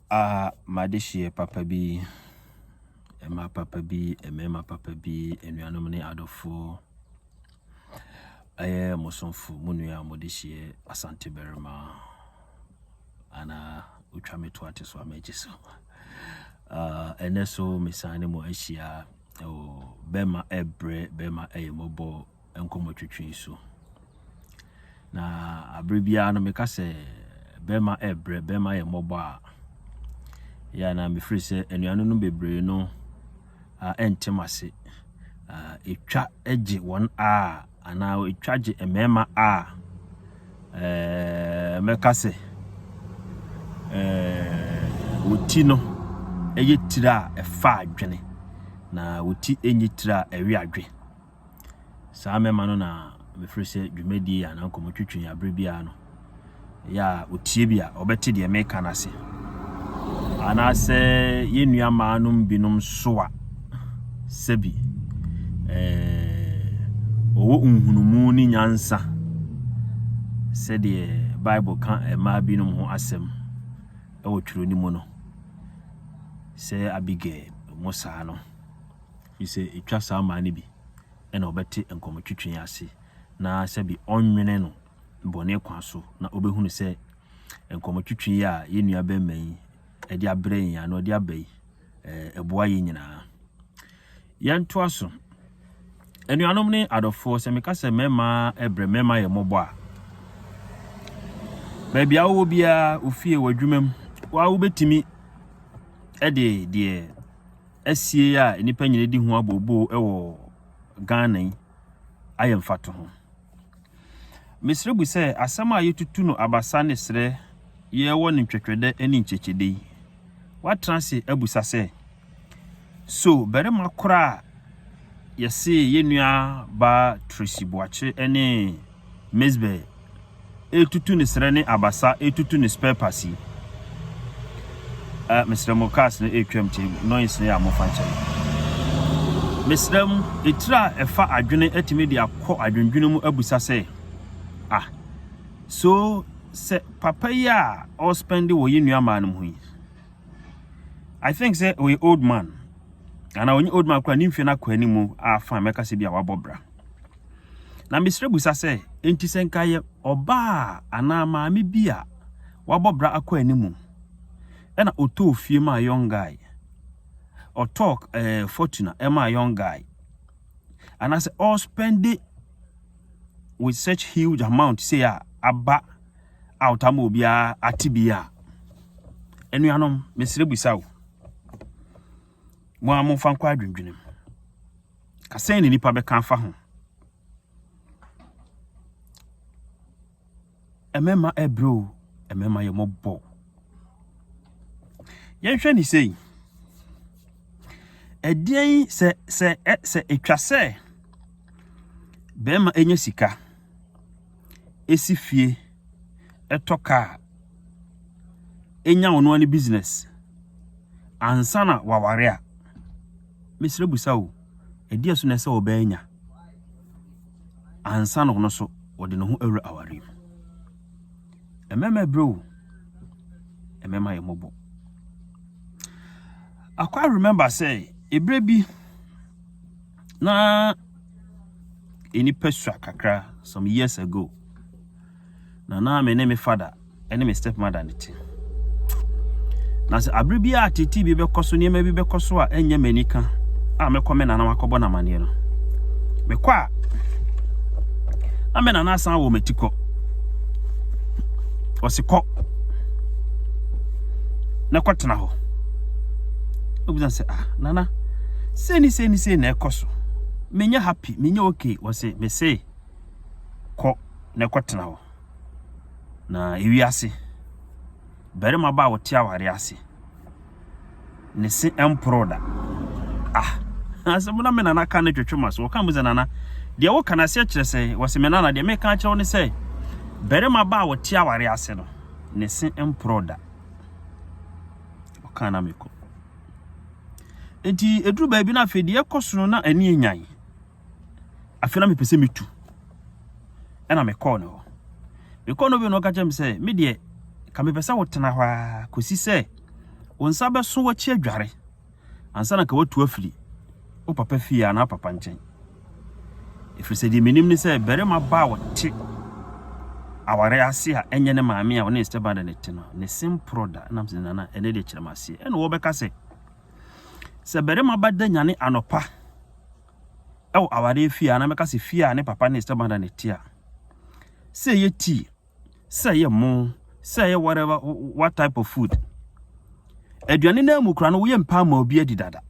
Aha m'adehyeɛ papa bi, mmaa papa bi, mmarima papa bi, anuanom ne adɔfoɔ. Ɛyɛ mo somfo mo nua a mode hyeɛ Asante Barima anaa otwa me to ate so a m'agye so. Ah, Ɛnɛ so mesan ne mo ahyia ɛwɔ bɛma ɛbrɛ bɛma ɛyɛ mɔbɔ nkɔmmɔtwitwi so. Na bere biara no meka sɛ bɛrima ɛbrɛ bɛrima yɛ mmɔbɔ a yɛ na mefiri sɛ anuanom no bebree no ɛntem ase ɛtwa gye wɔn a anaa ɛtwa gye mmarima a ɛɛ mɛka sɛ ɛɛ wɔti no ɛyɛ tiri a ɛfa adwene na wɔti ɛnyɛ tiri a ɛwe adwene Saa mɛma no na mefrɛ sɛ dwumadie anaa nkɔmmɔtwitwi a berɛ biara no ɛyɛ a ɔtie bi a ɔbɛte deɛ meka no ase. Anaasɛ yɛn nua mmaa no binom so a sɛbi ɔwɔ eh, nhunumu ne nyansa sɛdeɛ Bible ka mmaa binom ho asɛm ɛwɔ twerɛ no mu no sɛ Abigail mo saa no. Gye sɛ etwa saa mmara no bi na ɔbɛte nkɔmɔtwetwe yi ase na sɛbe ɔnwene no bɔne kwan so na ɔbɛhunu sɛ nkɔmɔtwetwe yi a yɛn nua bɛrima yi de abrɛ yɛn ano de aba yi, ɛboa yɛn nyinaa. Yɛntoa so. Anuanom ne adɔfoɔ, sɛ meka sɛ mmarima ɛbrɛ mmarima yɛ mmɔbɔ a, baabi a wowɔ biara, ofie, w'adwuma mu, wa wobɛtumi de deɛ asie a nnipa nyina di ho abooboo wɔ Ghana yi ayɛ mfatoho. Mesrɛ bu sɛ asɛm a yɛtutu no abasa ne serɛ yɛwɔ no ntwɛtwɛdɛ ne nkyɛkyɛdɛ yi, woatena ase abusa sɛ, So barima korɔ a yɛsee yɛn nua baa Tracy Boakye ne Mizbeh retutu ne serɛ ne abasa retutu ne spare parts yi ah mesrɛ mo cars no retwam nti noise no yɛ a momfa nkyɛ me mesrɛ mo etire a ɛfa adwene atumi de akɔ adwendwene mu abusa sɛ ah so sɛ papa yi a ɔspɛnde wɔ yɛ nua maa no ho yi I think sɛ ɔyɛ old man ana ɔnye old man kora ne mfie no akɔ anim a fa mɛka sɛ bi a wabɔ bra Na mesrɛ bisa sɛ, enti sɛ nka yɛ ɔbaa anaa maame bi a wabɔ bra akɔ anim na ɔtɔɔ fie maa young guy, ɔtɔɔ eh, Fortuna maa young guy, anaasɛ ɔspɛnde with such huge amount sei a aba out ama obiara ate bi a, anuanom, mesrɛ bisa o, mo a momfa nkɔ adwendwenem. Ka sɛn na nnipa bɛka afa ho? Mmarima ɛbrɛ o, mmarima yɛ mɔbɔ o. Yɛnhwɛ ne sei. Ɛdeɛn sɛ sɛ sɛ ɛtwa sɛ bɛrima ɛnya sika, ɛsi fie, ɛtɔ kaa, ɛnya ɔno ara ne business ansa na waware a, Mesrɛ bisa o, ɛdeɛ so na ɛsɛ ɔbaa anya ansa na ɔno nso ɔde ne ho awura awareɛ mu? Mmarima ɛbrɛ o, mmarima yɛ mmɔbɔ. I quite remember sɛ ɛberɛ bi na nnipa sua kakra some years ago. Na na me ne me fada ne me stepmother na ɛte. Na sɛ abere bi a tete bi bɛkɔ so, nneɛma bi bɛkɔ so a ɛnyɛ m'ani ka a mɛkɔ me nana akɔbɔ no amaneɛ no. Mekɔ a, na me nana asan wɔ m'ati kɔ. Ɔse kɔ na kɔtena hɔ. Obisa sɛ, ah, nana, sɛ ni sɛ ni sɛ na ɛkɔ so. Menyɛ happy, menyɛ okay. Ɔse, mese, kɔ na ɛkɔtena hɔ. Na ewiase, barima ba a ɔte awareɛ ase, ne se mporoo da. Ah, asɛm na me nana ka no twetwe m'aso. Ɔka mu sɛ, Nana, deɛ woka no aseɛ kyerɛ sɛn? Wɔse, me nana, deɛ meka akyerɛ wo ne sɛ, barima ba a ɔte awareɛ ase no, ne se mporoo da. Ɔka na mekɔ. Enti, ɛduru baabi no afei deɛ ɛkɔ so no na ani nyan. Afei na mepɛ sɛ metu. Ɛna mekɔɔ ne hɔ. Mekɔɔ no bi na ɔka kyerɛ me sɛ, me deɛ, ka mepɛ sɛ wotena hɔ ara kɔsi sɛ wo nsa bɛso w'akyi adware ansa na ka watu afiri wo papa fie anaa papa nkyɛn. Ɛfiri sɛ deɛ menim ne sɛ barima ba a ɔte aware ase a ɛnyɛ ne maame a ɔne ne stepmother no te no, ne se mporɔ da. Ɛnam sɛ nana ɛnɛ deɛ kyerɛ me aseɛ. Ɛna wɔbɛka sɛ, Sɛ barima ba da nyane anɔpa wɔ awareɛ fie a, anaa mɛka sɛ fie a ne papa ne ne stepmother na ɛte a, sɛ ɛyɛ tea, sɛ ɛyɛ mo, sɛ ɛyɛ whatever, what type of food, aduane no mu kora no woyɛ mpa ma obi adi dada.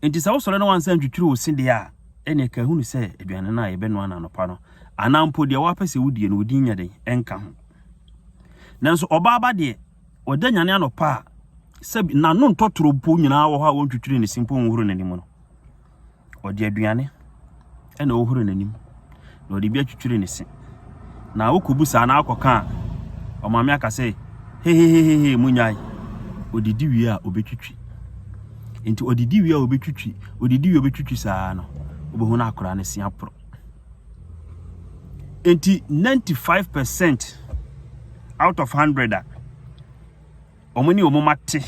Nti sɛ wosɔre na wansa ntwitwiri wo se deɛ a, ɛne ɛka hunu sɛ aduane no a yɛbɛnoa no anɔpa no, anaa mpo deɛ wapɛ sɛ wodie no, wodin nyɛ den, ɛnka ho. Nanso ɔbaa ba deɛ, Ɔda nyane anɔpa a, sɛbi n'ano ntɔ toro mpo nyinaa wɔ hɔ a wɔntwitwiri ne se mpo nhoro n'anim no. Ɔde aduane na ɔhoro n'anim, na ɔde bi atwitwiri ne se. Na wokɔbu saa na akɔka a, ɔmaame aka sɛ, hehehehe, monyae. Ɔdidi wie a, ɔbɛtwitwi. Nti ɔdidi wie a ɔbɛtwitwi, ɔdidi wie a ɔbɛtwitwi saa no, wobɛhu no akora ne se aporo. Enti ninety five percent out of hundred a wɔn ne wɔn mma te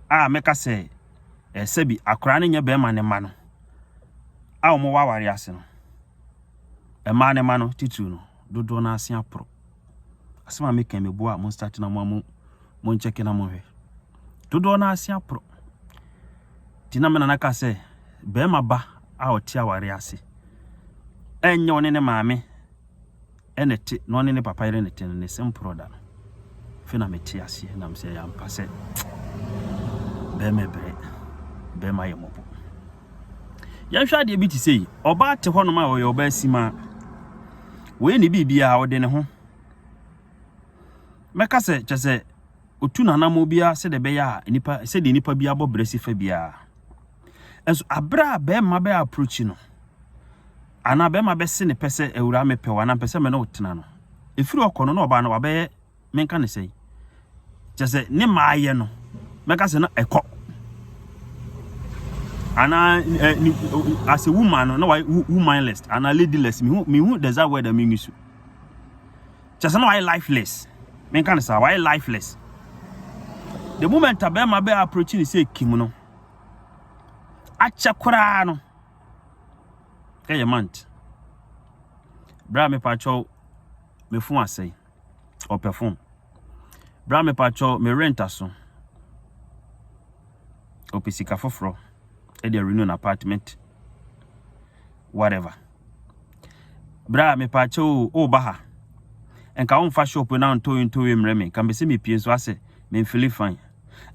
a mɛka sɛ eh, sɛbi akwaraa no nyɛ bɛrima ne mma no a wɔwɔ aware ase no, mmaa ne mma no titiriw no, dodoɔ no ase aporo. Asɛm a meka yi meboa a mo start na mo a mo mo nkyɛke na mo hwɛ. Dodoɔ no ase aporo. Ti na me nana ka sɛ bɛrima ba a ɔte aware ase ɛnyɛ ɔne ne maame ɛna ɛte na ɔne ne papa yere ne te no ne se mporo da no. Fe na mete aseɛ na mesɛ yɛ ampa sɛ bɛrima brɛ bɛrima yɛ mɔbɔ. Yɛnhwɛ adeɛ bi te sei, ɔbaa te hɔnom a ɔyɛ ɔbaa simaa. Wɔyɛ ne biribiara, ɔde ne ho. Mɛka sɛ kyɛ sɛ otu n'anammɔ biara sɛdeɛ ɛbɛyɛ a nipa sɛdeɛ nipa bi abɔ brɛ si fa biara. Nso abere a bɛrima bɛ approach no anaa bɛrima bɛse ne pɛ sɛ awura mepɛ wo anaa mpɛ sɛ me ne wo tena no, ɛfiri ɔkɔ no na ɔbaa no wabɛyɛ menka no sɛn? Kyerɛ sɛ ne maayɛ no, mɛka sɛ na ɛkɔ. Anaa ɛ eh, eh, as a woman no, na wayɛ womanless anaa ladyless. Mehu mehu the exact word a mengi so. Kyerɛ sɛ na wayɛ lifeless. Menka no saa, wayɛ lifeless. The moment a bɛrima bɛ approach ne sɛ kim no, akyɛ koraa no, ɛyɛ month. Bra me patrɔ, me fun asɛe. ɔpɛ phone. Bra me pacho me rent aso. Ɔpɛ sika foforɔ ɛde renew na apartment whatever. Bra me pacho o o ba ha. Nka wo nfa shop na ntoe ntoe mmerɛ me nka me se me pie nso asɛ me feel fine.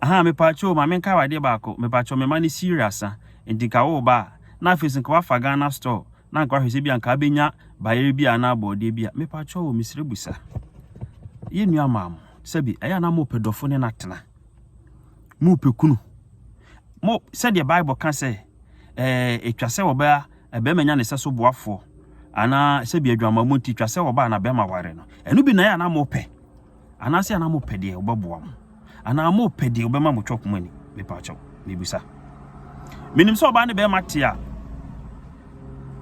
Ahaa mepaakyɛ o ma menkae wo adeɛ baako mepaakyɛ me mma no siire asa nti nka wo ba a na afei so nka wafa Ghana store na nka wahwɛ sɛ bia nka abɛnya bayerɛ bi a anaa bɔɔdeɛ bi a mepaakyɛ o mesrɛ busa yɛ nua maa mo sɛbi ɛyɛ anaa mopɛ dɔfo ne no atena mopɛ kunu mo sɛdeɛ bible ka sɛ ɛtwa sɛ wɔbɛa ɛbɛma nya ne sɛ so boafoɔ anaa sɛbi adwamammɔ nti twa sɛ wɔba na bɛma ware no ɛno bi na ɛyɛ anaa mopɛ Anaasɛ anaa mo pɛ deɛ ɔbɛboa mo anaa mo pɛ deɛ ɔbɛma mo twɔk mo ani mepaakyɛw mebisa menim sɛ ɔbaa ne bɛrima te a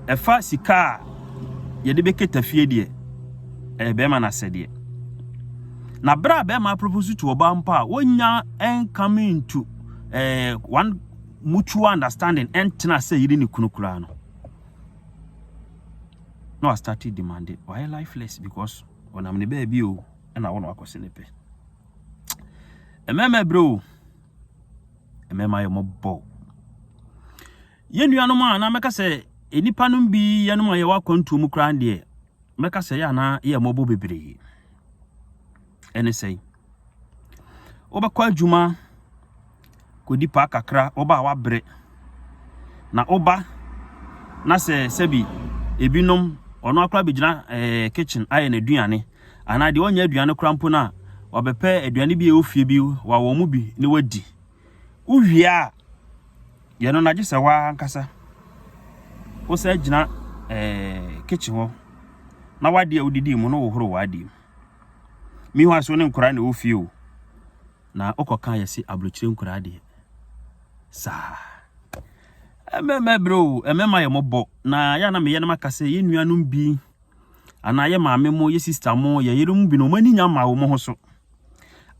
ɛfa sika a yɛde bɛkɛta fie deɛ ɛyɛ bɛrima no asɛdeɛ na berɛ a bɛrima propose to ɔbaa mpo a wɔnya ɛnkame ntu eh, one mutual understanding ɛntena sɛ yere ne kunu koraa no na wastate demande wayɛ lifeless because Ɔnam ne baabi o, ɛna awo na wakɔ se ne pɛ. Mmarima ɛbrɛ o, mmarima yɛ mɔbɔ. Yɛn nuanom a na mɛka sɛ nnipa no bi yɛnom a yɛwɔ akwantuo mu koraa deɛ mɛka sɛ yɛ anaa yɛ mɔbɔ bebree. Ɛne sɛn? Wobɛkɔ adwuma kɔdi paa kakra, woba a woabrɛ. Na woba na sɛ sɛbi ebinom, ɔno ara koraa bɛgyina ɛɛ kitchen ayɛ n'aduane. Anaa deɛ ɔnyɛ aduane koraa mpo no a, wabɛpɛ aduane bi a ɛwɔ fie bi wawɔ mu bi na wadi. Wowie a, yɛn no na gye sɛ wo ara ankasa wosan gyina ɛɛ kitchen hɔ na w'adeɛ a wodidii mu no wohoro w'adeɛ mu. Meanwhile nso wo ne nkwadaa na ɛwɔ fie o, na wokɔka yɛ se aburokyire nkwadaa deɛ saa. Mmarima brɛ o, mmarima yɛ mmɔbɔ na yɛ na meyɛ no maka sɛ yɛn nuanom bi anaa yɛ maame mo, yɛ sista mo, yɛ yere mo bi na wɔn ani nya ma wɔn ho so.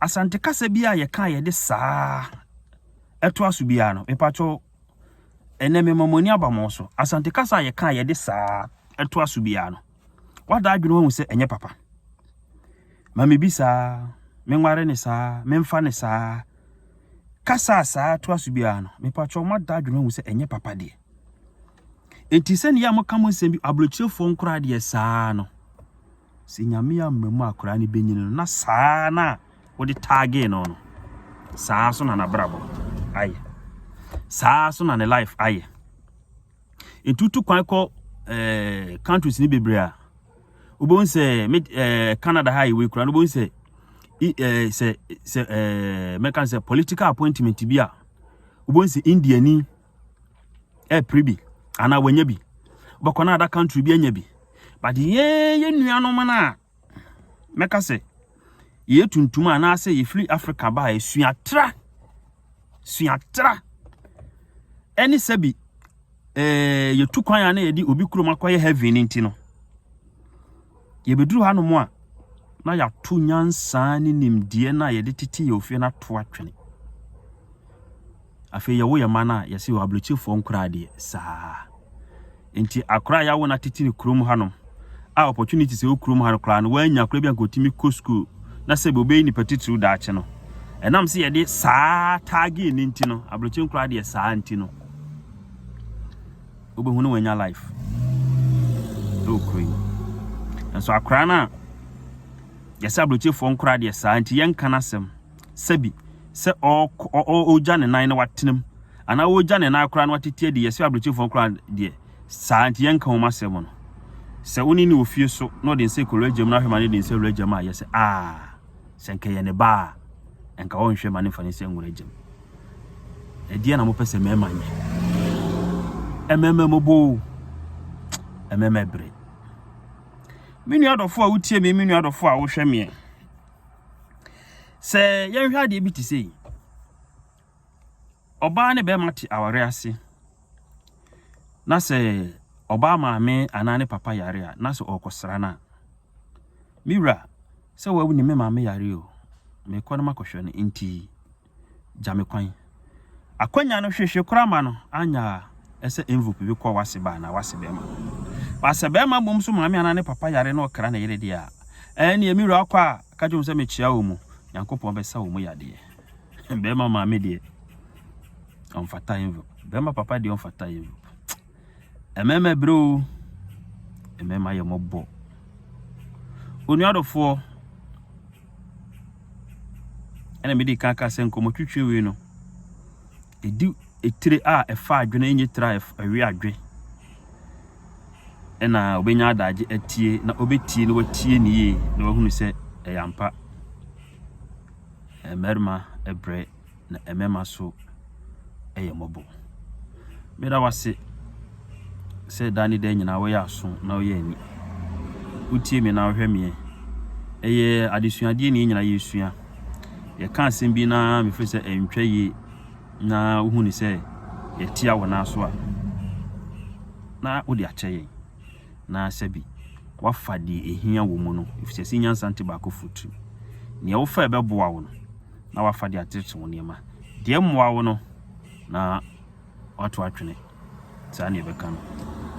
Asante kasa bi a yɛka yɛde saa ɛto aso biara no, mepatwɔ ɛnɛ mema mo ani aba mo so. Asante kasa a yɛka yɛde saa ɛto aso biara no, Woada adwene woahu sɛ ɛnyɛ papa. Ma me bi saa, me nware ne saa, me mfa ne saa. Kasa a saa to aso biara no, mepatwɔ moada adwene woahu sɛ ɛnyɛ papa deɛ. Enti sɛ nea moka mo nsɛm bi aburokyerɛfoɔ nkoraa deɛ saa no, sɛ nyame amma mu akoraa no bɛnyini no na saa na wode taagee no no, saa so na nabrabɔ ayɛ. Saa so na ne life ayɛ. Etutu kwan kɔ ɛɛ countries ni bebree a, wobɛhu sɛ mid ɛɛ Canada ha yɛwɔ yi koraa no wobɛhu sɛ i ɛɛ sɛ sɛ ɛɛ mɛka sɛ political appointment bi a wobɛhu sɛ Indiani ɛpere bi anaa wɔanya bi. Wobɛkɔ no ada country bi anya bi. But yɛn yɛn nuanom no a mɛka sɛ yɛyɛ tuntum a anaasɛ yɛfiri africa ba a suatra suatra ɛne sɛ bi eh, yɛtu kwan a na yɛde obi kurom akɔyɛ heaven no nti no yɛbɛduru hanom a na yɛato nyansaa ne nimdeɛ no a yɛde tete yɛ ofie no ato atwene Afei yɛwo yɛn mma no a, yɛse wɔ abrokyirefoɔ nkoraa deɛ saa. Nti akoraa a yɛawo no atetire kurom hanom a opportunities a ɛwɔ kurom ha no koraa no wannya koraa bi anka ɔtumi kɔ school na sɛbi ɔbɛyɛ nipa titiriw daakye no. Ɛnam sɛ yɛde saa tagging no nti no, abrokyi nkoraa deɛ saa nti no, wobɛhu no wanya life ɛwɔ kuro yi. Nso akoraa no a yɛsɛ abrokyirefoɔ nkoraa deɛ saa nti yɛnka no asɛm sɛbi, sɛ ɔɔkɔ, ɔ, ɔ, ɔɔgya ne nan na watena mu, anaa ɔɔgya ne nan koraa na watete adi, yɛse abrɛkyefo no koraa deɛ, saa nti yɛnka wɔn asɛm no. Sɛ wo ne no wɔ fie so na ɔde nsa kura w'agya mu na ahwɛ ma no de nsa wura agya mu a, yɛse, aa, sɛ nka ɛyɛ ne ba a, nka ɔnhwɛ ma no mfa ne nsa nwura agya mu. Ɛdeɛn na mopɛ sɛ mmarima nyɛ? Mmarima mmɔbɔ o, mmarima ɛbere. Me nua dɔfo a wotie me, me nua dɔfo a wohwɛ meɛ. Sɛ yɛnhwɛ adeɛ bi te sɛ yi, ɔbaa ne bɛrima te aware ase na sɛ ɔbaa maame anaa ne papa yare a na sɛ ɔrekɔsra no a, me wura sɛ wawu ne me maame yare o, mekɔ no makɔhwɛ no nti gya me kwan. Akwanya no hwehwe koraa ma no annyɛ a ɛsɛ envulope bi kɔ w'ase ba anaa w'ase bɛɛma. Ba sɛ bɛɛma mmom so maame anaa ne papa yare na ɔkra ne yere deɛ a, ɛɛneɛ me wura kɔ a ka kyerɛ wɔn sɛ mekyea wɔn mu, Nyankopɔn bɛsa wɔn mu yadeɛ. Bɛɛma maame deɛ ɔmfata envulope, bɛɛma papa deɛ ɔmfata envulope. Mmarima brɛ o, mmarima yɛ mmɔbɔ. Onua dɔfoɔ, ɛna mede kan ka sɛ nkɔmmɔtwitwi wei no, ɛdi etire a ɛfa adwene ɛnyɛ tire a ɛwe adwe. Ɛna ɔbɛnya adagye atie na ɔbɛtie na watie ne yie na wahunu sɛ ɛyɛ ampa. Mmarima brɛ. na ɛmɛma so yɛ mmɔbɔ. Me da wase sɛ da ne da nyinaa woyɛ aso na woyɛ ani. Wotie me na wohwɛ meɛ. Ɛyɛ adesuadeɛ ne nyinaa yɛsua. Yɛka asɛm bi na mefiri sɛ ɛntwa yie na wohu ne sɛ yɛtia wo nan so a na wode akyɛ yɛn na sɛ bi wafa deɛ ɛhia wɔ mu no ɛfisɛ sɛ nyansa nte baako fotiri. Nea wofa ɛbɛboa wo no na wafa de ateetee wo nneɛma. Deɛ ɛmmoa wo no na wato atwene. Saa na ɛbɛka no.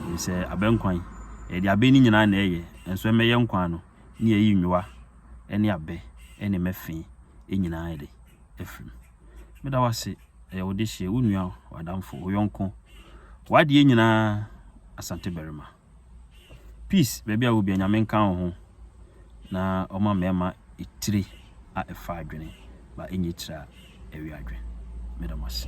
Ɛfiri sɛ abɛnkwan, ɛyɛ deɛ abɛn no nyinaa na ɛyɛ, nanso ɛmmɛ yɛ nkwan no, ne yɛyi nnwowa ne abɛ ne mmɛ fee nyinaa de afiri mu. Meda wo ase, ɛyɛ wo dehyeɛ, wo nua, w'adamfo, wo yɔnko, w'adeɛ nyinaa, Asante Barima. Peace baabi a wo biara nyame nka wo ho na ɔma mmarima etire a ɛfa adwene ba ɛnyɛ etire a ɛwe adwene meda mo ase.